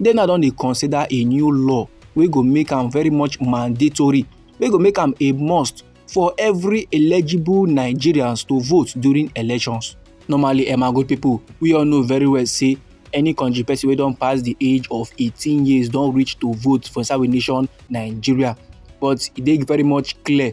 they now don dey consider a new law wey go make am very much mandatory wey go make am a must for every eligible nigerians to vote during elections normally emma eh, good people, we all know very well say any country person wey don pass the age of 18 years don reach to vote for inside we nation nigeria but e dey very much clear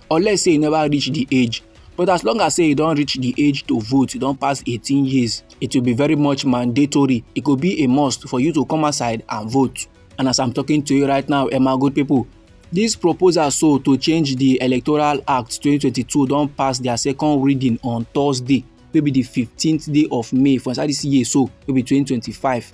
unless say e never reach the age but as long as say e don reach the age to vote e don pass 18 years it will be very much mandatory it go be a must for you to come outside and vote and as i'm talking to you right now emma good people This proposal so to change the Electoral Act 2022 don pass their second reading on Thursday wey be the 15th day of May for inside this year so wey be 2025.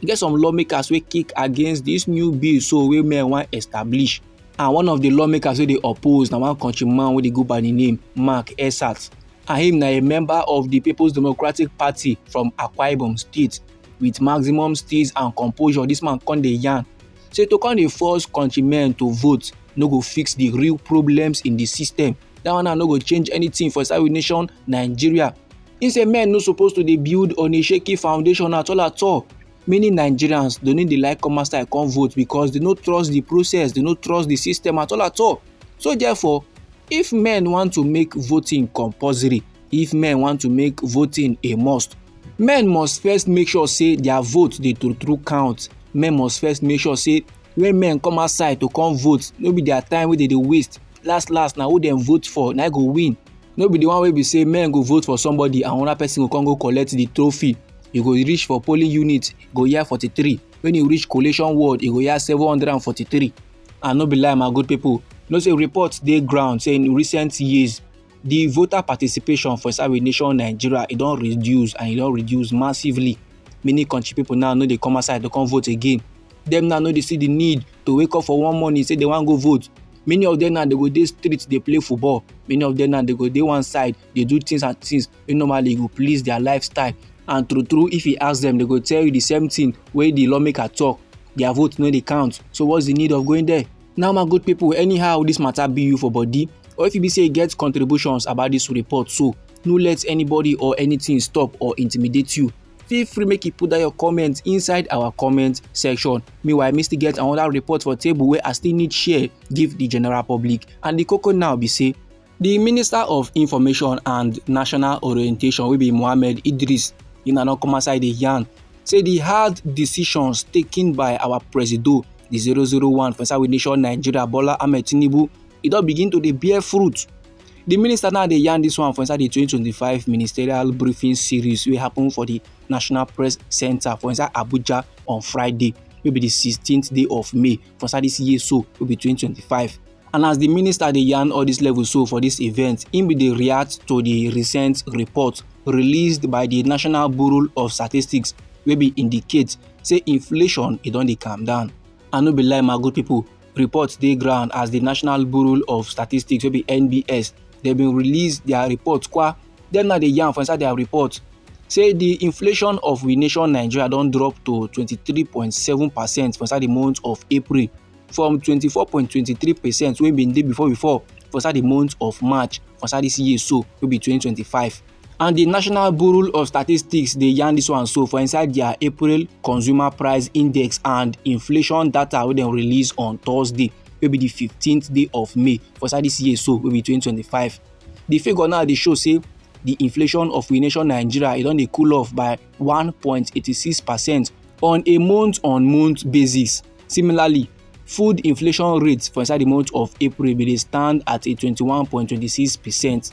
e get some lawmakers wey kick against this new bill so wey men wan establish and one of the lawmakers wey dey oppose na one country man wey dey go by the name mark esat and him na a member of the people's democratic party from akwa ibom state with maximum steeze and composure this man come dey yarn say to come dey force countrymen to vote no go fix the real problems in the system that one now no go change anything for inside we nation nigeria He say men no suppose to dey build on a shaky foundation at all at all. Many Nigerians don't need the like come outside come vote because they no trust the process, they no trust the system at all at all. So therefore, if men want to make voting compulsory, if men want to make voting a must, men must first make sure say their vote dey true true count. Men must first make sure say when men come outside to come vote, no be their time wey they dey waste. Last last na who dem vote for na go win. no be the one wey be say men go vote for somebody and another person go come go collect the trophy you go reach for polling unit go hear forty-three when you reach collation ward you go hear seven hundred and forty-three and no be lie my good people no say reports dey ground say in recent years the voter participation for inside we nation nigeria e don reduce and e don reduce massively many country people now no dey come outside to come vote again dem now no dey see the need to wake up for one morning say they wan go vote many of them now they go dey street dey play football many of them now they go dey one side dey do things and things wey normally go please their lifestyle and true true if you ask them they go tell you the same thing wey the lawmaker talk their vote no dey count so what's the need of going there now my good people anyhow this matter be you for body or if you be say you get contributions about this report so no let anybody or anything stop or intimidate you feel free make you put down your comment inside our comment section meanwhile me still get another report for table wey i still need share give the general public and the koko now be say the minister of information and national orientation wey be mohammed idris in an come outside dey yarn say the hard decisions taken by our presido the 001 for inside we nation nigeria bola ahmed tinubu e don begin to dey bear fruit The minister now dey yarn this one for inside the 2025 ministerial briefing series wey happen for the National Press Center for inside Abuja on Friday wey be the 16th day of May for inside this year so wey be 2025. And as the minister dey yarn all this level so for this event, im bin dey react to the recent report released by the National Bureau of Statistics wey bin indicate say inflation e don dey calm down. I no be lie my good people, report dey ground as di national bureau of statistics wey be nbs dem bin release dia report kwa dem na dey yarn for inside dia report say di inflation of we nation nigeria don drop to 23.7 percent for inside di month of april from 24.23 percent wey bin dey before before for inside di month of march for inside dis year so wey be 2025 And the National Bureau of Statistics dey yarn this one so for inside their April Consumer Price Index and inflation data wey dem release on Thursday wey be the 15th day of May for inside this year so wey be 2025. The figure now dey show say the inflation of we nation Nigeria e don dey cool off by 1.86 percent on a month-on-month basis. Similarly, food inflation rate for inside the month of April bin dey stand at a 21.26 percent.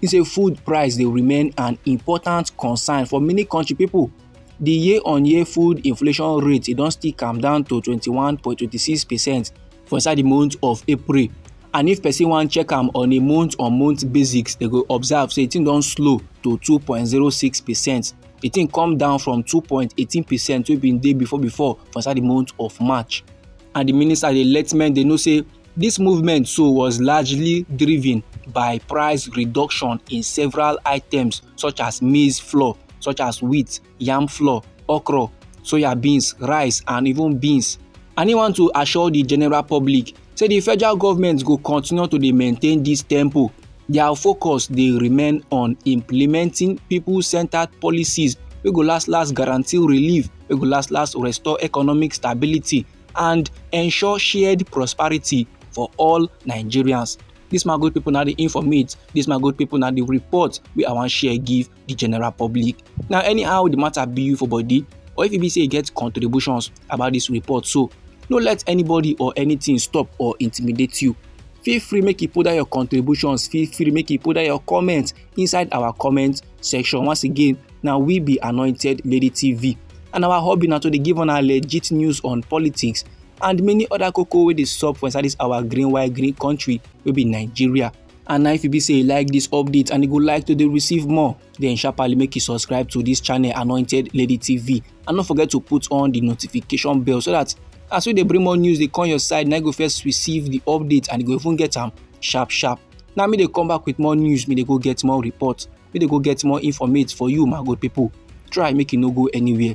He say food price dey remain an important concern for many country people. The year-on-year food inflation rate e don still calm down to 21.26 percent for inside the month of April. And if person wan check am on a month-on-month -month basis, they go observe say the thing don slow to 2.06 percent. The thing come down from 2.18 percent wey been dey before before for inside the month of March. And the minister dey let men dey know say This movement so was largely driven by price reduction in several items such as maize flour, such as wheat, yam flour, okra, soya beans, rice and even beans. And he want to assure the general public say the federal government go continue to dey maintain this tempo. Their focus dey remain on implementing people-centered policies wey go last last guarantee relief, wey go last last restore economic stability and ensure shared prosperity for all nigerians This my good people now the informate This my good people now the report We i wan share give the general public now anyhow the matter be you for body or if you be say you get contributions about this report so no let anybody or anything stop or intimidate you feel free make you put down your contributions feel free make you put down your comments inside our comment section once again na we be anointed lady tv and our hobby na to dey give una legit news on politics and many other koko wey dey sup for inside this our green white green country wey be nigeria and na if you be say you like this update and you go like to dey receive more then sharply make you subscribe to this channel anointed lady tv and no forget to put on the notification bell so that as we dey bring more news dey come your side na you go first receive the update and you go even get am sharp sharp na me dey come back with more news me dey go get more report make dem go get more informate for you my good people try make you no go anywhere.